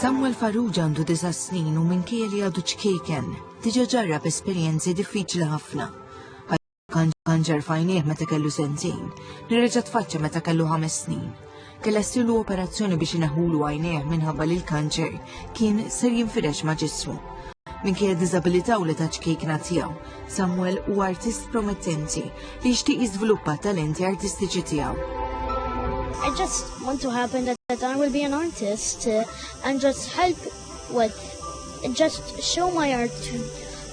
Samuel Farrugia għandu disa snin u minn kieli għadu ċkejken, diġa ġarrab esperjenzi diffiċli ħafna Kanġer fajnieh meta kellu sentejn, li reġa' tfaċċa meta kellu ħames snin. Kella ssilu operazzjoni biex ineħħulu għajnejh minħabba li l-kanċer kien ser jinfirex ma' ġismu. Minkejja diżabilità u li ta' ċkejkna tiegħu, Samuel huwa artist promettenti li jixtieq jiżviluppa talenti artistiċi tiegħu. I just want to happen that, that I will be an artist uh, and just help with just show my art to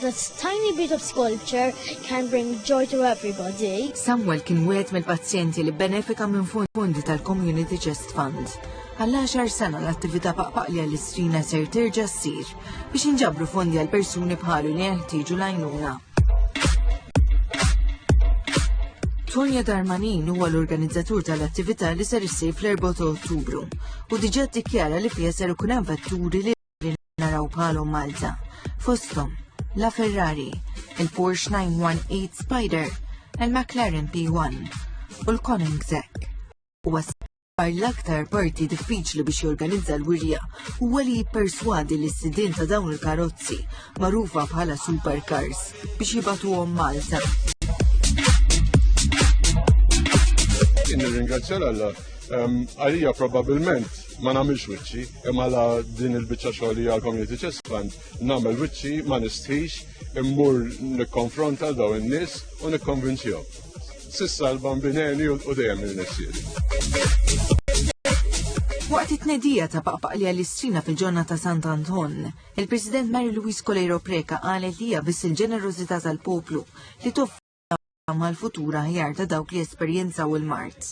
That tiny bit of sculpture can bring joy to everybody. Samuel kien wieħed mill-pazjenti li benefika minn fondi tal-Community Chest Fund. Għal 10 sena l-attività paqpaqli għall-istrina ser terġa' ssir biex inġabru fondi għal persuni bħalu li jeħtieġu l-għajnuna. Tonja Darmanin huwa l-organizzatur tal-attività li ser issir fl-4 Ottubru u diġà ddikjara li fiha ser ikun hemm vetturi li li naraw bħalhom Malta. Fosthom, la Ferrari, il-Porsche 918 Spider, il-McLaren P1 u l-Koenigsegg. U għasbar l-aktar parti diffiċli biex jorganizza l-wirja u għali jipperswadi li s-sidin ta' dawn il-karozzi marufa bħala supercars biex jibatuhom Malta. Nirringrazzja l-alla. Għalija probabilment ma nagħmilx wiċċi, imma la din il-biċċa xogħol hija l-community chest fund, nagħmel wiċċi ma nistħix immur nikkonfronta daw in-nies u nikkonvinċihom. Sissa l-bambineni u dejjem il-nessieri. Waqt it-tnedija ta' paqpaq li għall-istrina fil-ġonna ta' Sant Anton, il-President Mary Louise Coleiro Preca qalet li hija biss il-ġenerożità tal-poplu li toff tama għal futur aħjar ta' dawk li esperjenzaw il-mart.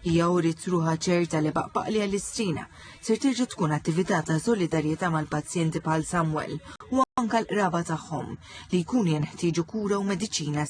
Hija uriet ruħa ċerta li baqbaqli għall-istrina ser terġa' tkun attività ta' solidarjetà mal-pazjenti bħal Samuel u anka l-qraba tagħhom li jkunu jenħtieġu kura u mediċina